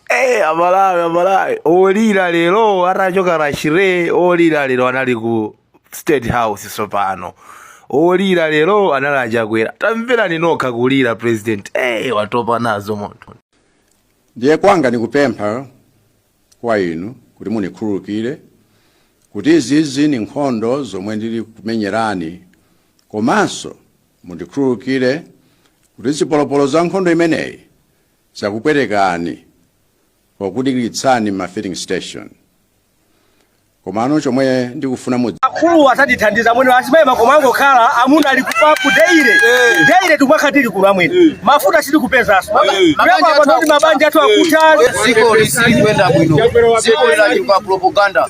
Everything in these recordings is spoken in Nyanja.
Eh, amalawi amalawi olira lero atachoka a chair olira lero anali ku state house tsopano olira lero anali achakwera tamverani nokha kulira president eh, watopa nazo munthu ndiye kwanga nikupempha kwa inu kuti munikhululukire kuti izizi ni nkhondo zomwe ndili kumenyerani komanso Mundikhululukire kuti zipolopolo za nkhondo imeneyi zakupwetekani pokudikiritsani m'ma filling station. Komano chomwe ndikufuna mudzi. akulu atatithandiza amwene azimayi makomo angokhala amuna ali kufa ku deire deire tikupakhatira kuno amwene mafuta sitikupezanso kuyamba apa ndi kuti mabanja athu akutha dziko silikuyenda bwino dziko linachuka propaganda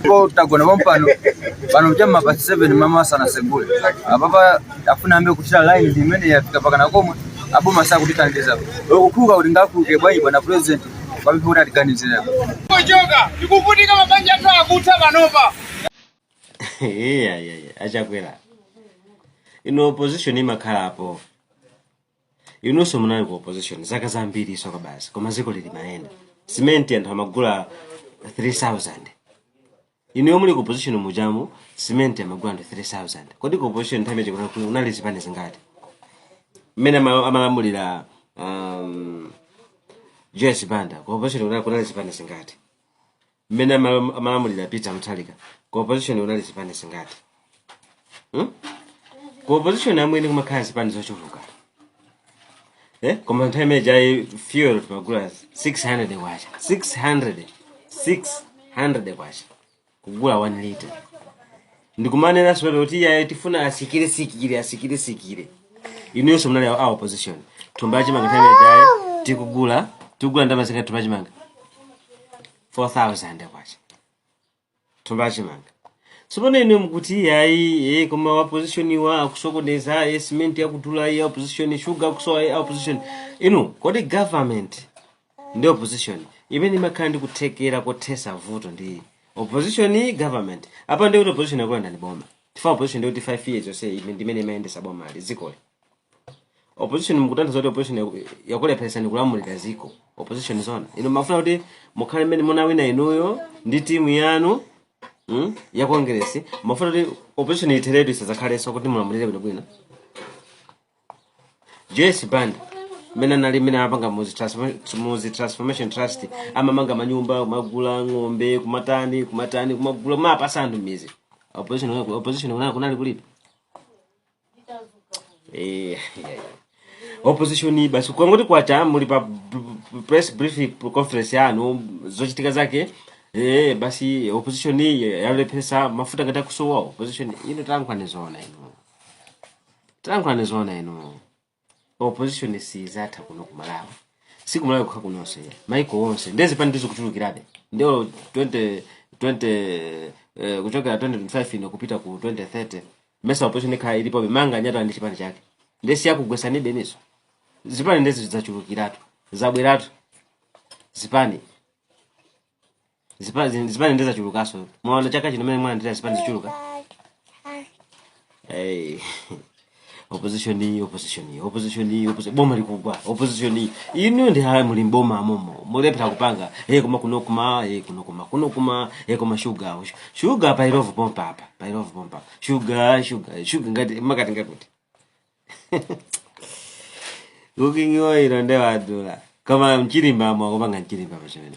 ndipo tagona pompano pano m'ma pa 7 mama asanasegule apapa afuna ambe kuchira line imene yafika pakana komwe aboma sakutithandiza akukhululuka kuti ngakhululuke bwanji bwana president pamene kuti atiganizira kuchoka tikuvutika mabanja athu akutha panopa yeah, yeah, yeah. achakwera ino opposition imakhalapo inunso munali ku opposition zaka zambiri izo kaya basi koma ziko limayenda simenti anthu amagula 3000 inuyo muli ku opposition mujamu simenti amagula anthu 3000 kodi ku opposition nthawi imene kuna- kuna- unali zipani zingati mmene ama- amalamulira um, joyce banda ku opposition kuna- kunali zipani zingati mmene amala- amalamulira peter mutharika ku opposition kunali zipani zingati hmm? ku opposition amwene kumakhala zipani zochuluka eh? koma nthawi imene ijayi fuel timagula 600 kwacha 600 600 kwacha kugula 1 liter ndikumanena sipano kuti iyaye tifuna asikire sikire asikire sikire inuyonso munali a opposition thumba la chimanga nthawi ijaye tikugula tikugula ndalama zingati thumba la chimanga 4000 kwacha thumba la chimanga sipano inu mukuti iyayi ye koma wa opposition iwo akusokoneza ye cement ikudula ye opposition sugar akusowa ye opposition inu kodi government ndi opposition imene imakhala ndi kuthekera kothesa vuto ndi opposition government apa ndi kuti opposition yakulandani boma chifukwa opposition ndi kuti 5 years yonse ime- ndi imene imayendesa boma kaya dzikoli opposition mukutanthauza kuti opposition yaku- yakulepheresani kulamulira ziko opposition zona inu mumafuna kuti mukhale mmene munawina inuyo ndi timu yanu mm, ya congress mumafuna kuti opposition itheretu isadzakhalenso kuti mulamulire bwinobwino joyce banda mmene anali mmene anapanga muzi transform- muzi transformation trust amamanga manyumba kumagula ng'ombe kumatani kumatani kumagula kumapasa anthu midzi opposition kunali- opposition kunali- kunali kulipo Eh, opposition basi kwangoti kwacha muli pa b- b- press briefing conference yanu zochitika zake eh, basi opposition yalepheretsa mafuta ngati akusowa opposition inu talankhulani zoona inu Talankhulani zoona inu. Opposition siizatha kuno ku Malawi. Si ku Malawi kokha kunonso ayi. Maiko onse. Nde zipani ndizo kuchulukirabe. Ndiyo 20 20 eh, kuchokera 2025 ino kupita ku 2030. Mesa opposition ikhala ilipobe Manganya atani ndi chipani chake. Nde siyakugwesanibenso. Zipani nde zidzachulukiratu. Zabweratu. Zipani. Zipa- zin- zipani nde zachulukaso mwaona chaka chino mene mwalandira zipani zachuluka hey. opposition iyi opposition iyi opposition iyi opposition boma likugwa opposition iyi inu ndi hayi muli mboma momo mukulephera kupanga hey koma kuno kuma hey kuno kuma kuno kuma hey koma sugar sugar pa Illovo pompa apa pa Illovo pompa sugar sugar sugar ngati makati ngakuti ukingiwa ilo ndewadula koma mchilimba mwa kupanga mchilimba pachimene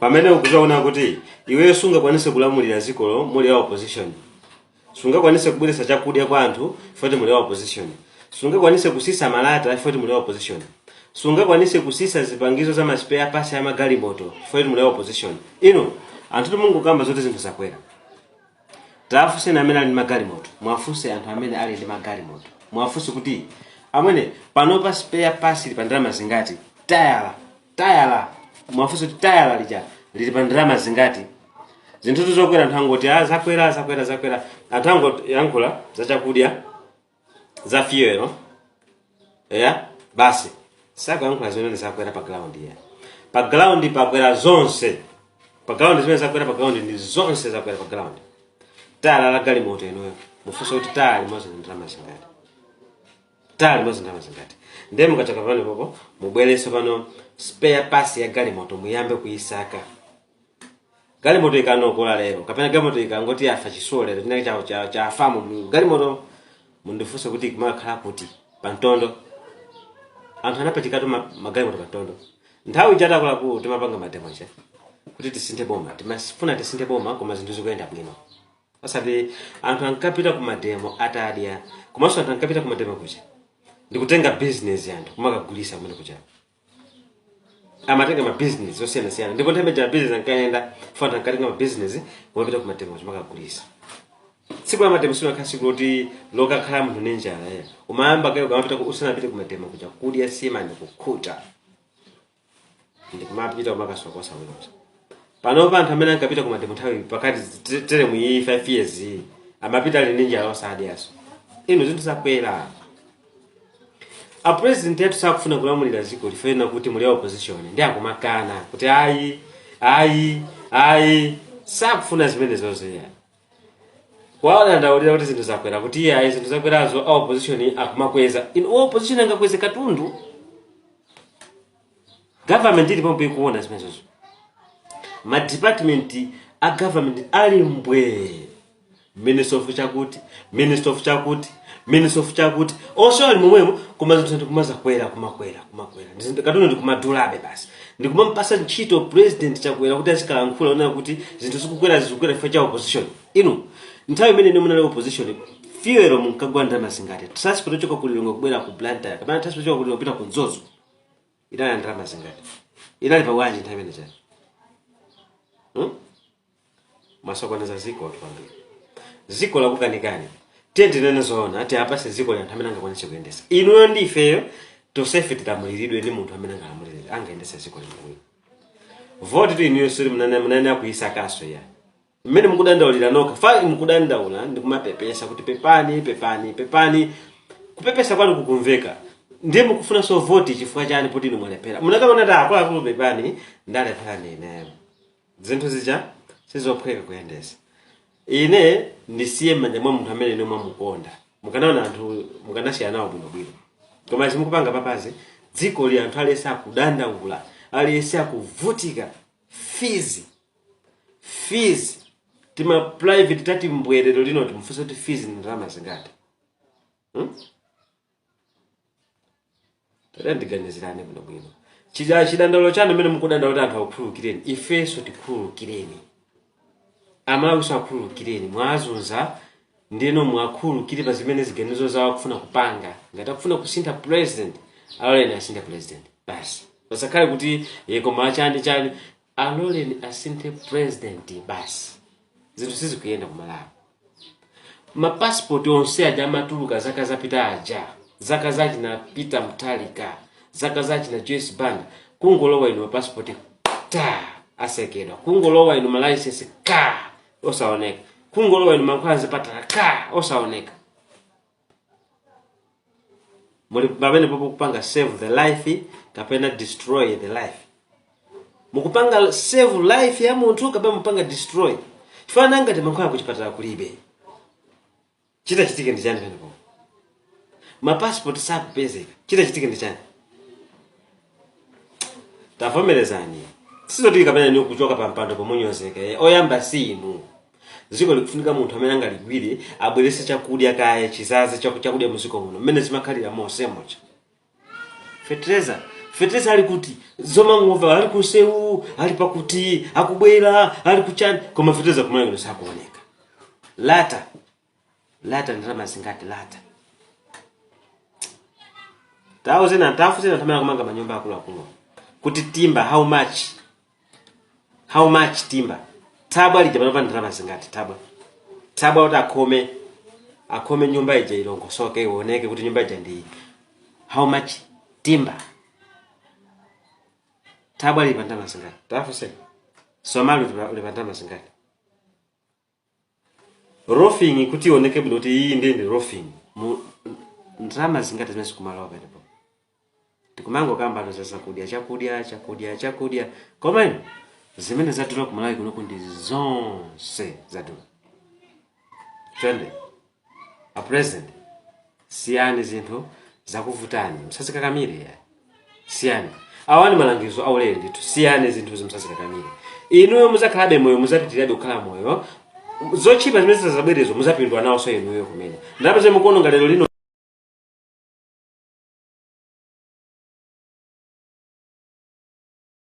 pamene ukuzaona kuti iweyo sungakwanise kulamulira dziko lomwe lili ya opposition sungakwanise kubweretsa chakudya kwa anthu poti muli ya opposition sungakwanise kusisa malata poti muli ya opposition sungakwanise kusisa zipangizo za ma spare parts ya magalimoto poti muli ya opposition inu anthu tumungokamba zoti zinthu zakwera tafunseni amene ali ndi magalimoto muwafunse anthu amene ali ndi magalimoto muwafunse kuti amwene panopa spare parts ili pa ndalama zingati tayala tayala muwafunse kuti tayala lija lili pa ndalama zingati zinthutu zokwera anthu angoti ah, zakwera zakwera zakwera anthu angoyankhula za chakudya za fuel eya basi sakuyankhula zimene zakwera pa ground ya pa ground pakwera zonse pa ground zimene zakwera pa ground ndi zonse zakwera pa ground tayala la galimoto inuyo mufunse kuti tayala limodzi ndi ndalama zingati tayala limodzi ndalama zingati ndiye mukachoka pano pompo mubwerenso pano spare parts ya galimoto muyambe kuyisaka galimoto ikaonongeka lero kapena galimoto ikangoti yafa chitsulo lero chinake cha- cha- chafamu mu- galimoto mundifunse kuti kumakhala kuti pamtondo anthu anapachikatu ma- magalimoto pamtondo nthawi ija akuluakulu timapanga mademo aja kuti tisinthe boma timafuna tisinthe boma koma zinthu zikuyenda bwino osati anthu ankapita ku mademo atadya komanso anthu ankapita ku mademo kucha ndikutenga business anthu kumakagulisa kumene kucha amatenga ma business osiyana siyana ndipo nthawi imene business ankayenda nkona anthu ankatenga ma business kumapita ku mademo kumakagulisa tsiku la mademo sinakhaleso kuti lokakhala munthu ndi njala ayi umayamba kaye kamapita ku- usanapite ku mademo kucha kudya sima ndi kukhuta ndikumapita kumakasokosa ino pano pa anthu amene ankapita ku mademo nthawi pakati te- teremu iyi 5 years iyi amapita ali ndi njala osadyaso ino zinthu zakwera a president athu sakufuna kulamulira dziko lifena kuti muli a opposition ndi akumakana kuti ayi ayi ayi sakufuna zimenezozo eya wawadandaulira kuti zinthu zakwera kuti iye ayi zinthu zakwerazo a opposition akumakweza inu opposition angakweze katundu government ili pompo ikuona zimenezozo ma department a government ali mbwee minister of chakuti minister of chakuti minister of chakuti onse ali momwemo koma zinthu ndikumazakwera kumakwera kumakwera Ndizi- katundu ndikumadulabe basi ndikumampasa ntchito president chakwera kuti azikalankhula onena kuti zinthu zikukwera zikukwera chifukwa cha opposition inu nthawi imene inu munali opposition fuel munkagula ndalama zingati transport ochoka ku lilongwe kubwera ku blantyre kapena transport ochoka ku lilongwe kupita ku mzuzu inali ya ndalama zingati inali pa bwanji nthawi imene chani hmm? mwasokoneza zikotu kwambiri ziko lakukanikani tiyeni tinene zoona ati apase ziko la anthu amene angakwanise kuyendesa inuyo ndi ifeyo tosefe tilamuliridwe ndi munthu amene angalamulirire angayendese ziko lino voti tu inuyo sure mukunena mukuyisakaso ya mmene mukudandaulira nokha apa mukudandaula ndi kumapepesa kuti pepani pepani pepani kupepesa kwanu kukumveka ndiye mukufunanso voti chifukwa chani poti inu mwalephera munakanena kuti akuluakulu pepani ndalephera ndi ineyo zinthu zija sizophweka kuyendesa ine ndisiye mmanja mwa munthu amene inu mwamukonda mukanaona anthu mukanasiyana nawo bwinobwino koma zimukupanga papazi dziko li anthu aliyese akudandaula aliyese akuvutika fees fees tima private tati mbwee lerolino timufunse kuti fees ni ndalama zingati hmm? tandiganizirani bwinobwino chija chidandaulo chanu mmene mukudandaula kuti anthu akukhululukireni ifenso tikhululukireni amalawinso akhululukireni mwazunza ndinu muwakhululukire pa zimene ziganizo zawo akufuna kupanga ngati akufuna kusintha president aloleni asinthe president basi pasakhale kuti ye koma chani chani Aloleni asinthe president basi zinthu sizikuyenda kumalawi ma passport onse aja amatuluka zaka zapita aja zaka za china peter mutharika zaka za china joyce banda kungolowa inu ma passport ta atsekedwa kungolowa inu ma license ka osaoneka kungolowa inu mankhwala zipatala ka osaoneka muli pamenepopo kupanga save the life kapena destroy the life mukupanga save life ya munthu kapena mukupanga destroy chifukwa ngati mankhwala kuchipatala kulibe chitachitike ndi chani pamenepo mapassport sakupezeka chitachitike ndi chani tavomerezani sizotheka pamene ni kuchoka pa mpando pomunyozeka eh, oyamba si inu dziko likufunika munthu amene angaligwire abwerese chakudya kaye chizaze chaku- chakudya muziko muno mmene zimakhalira monsemuja fetereza fetereza ali kuti zomangomva ali kumsewu ali pakuti akubwera ali kuchani koma fetereza kumene sakuoneka lata lata ndalama zingati lata tafunsani tafunsani tamala kumanga manyumba akuluakulu kuti timba how much how much timba tabwa lija panopa ndalama zingati tabwa tabwa kuti akhome akhome nyumba ija ilongosoke ioneke kuti nyumba ija ndi how much timba tabwa lili pa ndalama zingati tafunsani misomali lili pa ndalama zingati roofing kuti ioneke bwino kuti iyi ndiye ndi roofing Mu- ndalama zingati zimene zikumalowa pamenepo tikumangokambano za zakudya chakudya chakudya chakudya komano zimene zadula kumalawi kunoku ndi zonse zadula chonde a president siyani zinthu zakuvutani musazikakamire iya siyani awa ni malangizo aulere ndithu siyani zinthuzi musazikakamire inuyo muzakhalabe moyo muzapitirabe kukhala moyo zotchipa zimene zizabwerezo muzapindula nawonso inuyo kumene ndalama zimene mukuononga lero lino